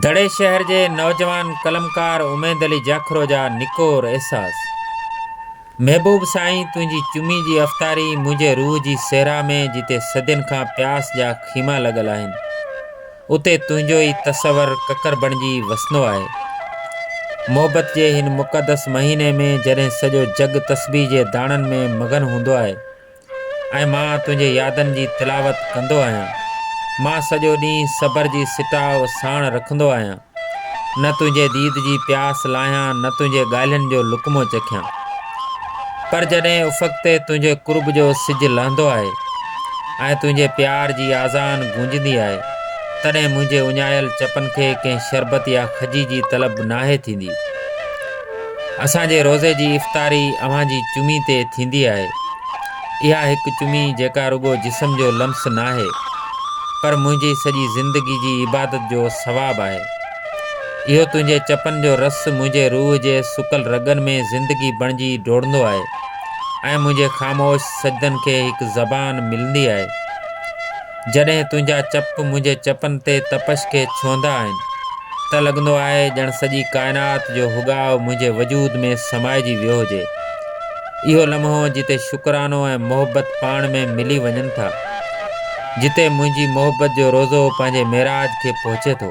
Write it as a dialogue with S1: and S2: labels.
S1: دڙي شهر جي نوجوان قلمڪار اميد علي جاکرو جا نڪور احساس. محبوب سائين تنهنجي چمي جي افطاري منهنجي روح جي صحرا ۾ جتي صدين کان پياس جا خيما لڳل آهن اتي تنهنجو ئي تصور ڪڪر بڻجي وسندو آهي. محبت جي هن مقدس مهيني ۾ جڏهن سڄو جڳ تسبيح جي داڻن ۾ مگن هوندو آهي ۽ مان تنهنجي يادن جي تلاوت ڪندو آهيان. مان سڄو ڏينهن صبر جي سٽاء ساڻ رکندو آهيان. نه تنهنجي ديد جي پياس لاهيان نه تنهنجي ڳالهين جو لقمو چکيان. پر جڏهن افق تي تنهنجي قرب جو سج لهندو آهي ۽ تنهنجي پيار جي آذان گونجندي آهي تڏهن منهنجي اڃايل چپن کي ڪنهن شربت يا کجي جي طلب ناهي ٿيندي. اسان جي روزي جي افطاري اوهان جي چمي تي ٿيندي آهي. اها هڪ چمي جيڪا رڳو جسم جو لمس ناهي پر منهنجي سڄي زندگي جي عبادت جو ثواب آهي. اهو تنهنجي چپن جو رس منهنجي روح جي سڪل رڳن ۾ زندگي بڻجي ڊوڙندو آهي ۽ منهنجي خاموش سجدن کي هڪ زبان ملندي آهي. جڏهن تنهنجا چپ منهنجي چپن تي تپش کي ڇهندا آهن ته لڳندو آهي ڄڻ سڄي ڪائنات جو هوڳاء منهنجي وجود ۾ سمائجي ويو هجي. اهو لمحو جتي شڪرانو ۽ محبت پاڻ ۾ ملي وڃن ٿا. جتي منهنجي محبت جو روضو پنهنجي معراج کي پهچي ٿو.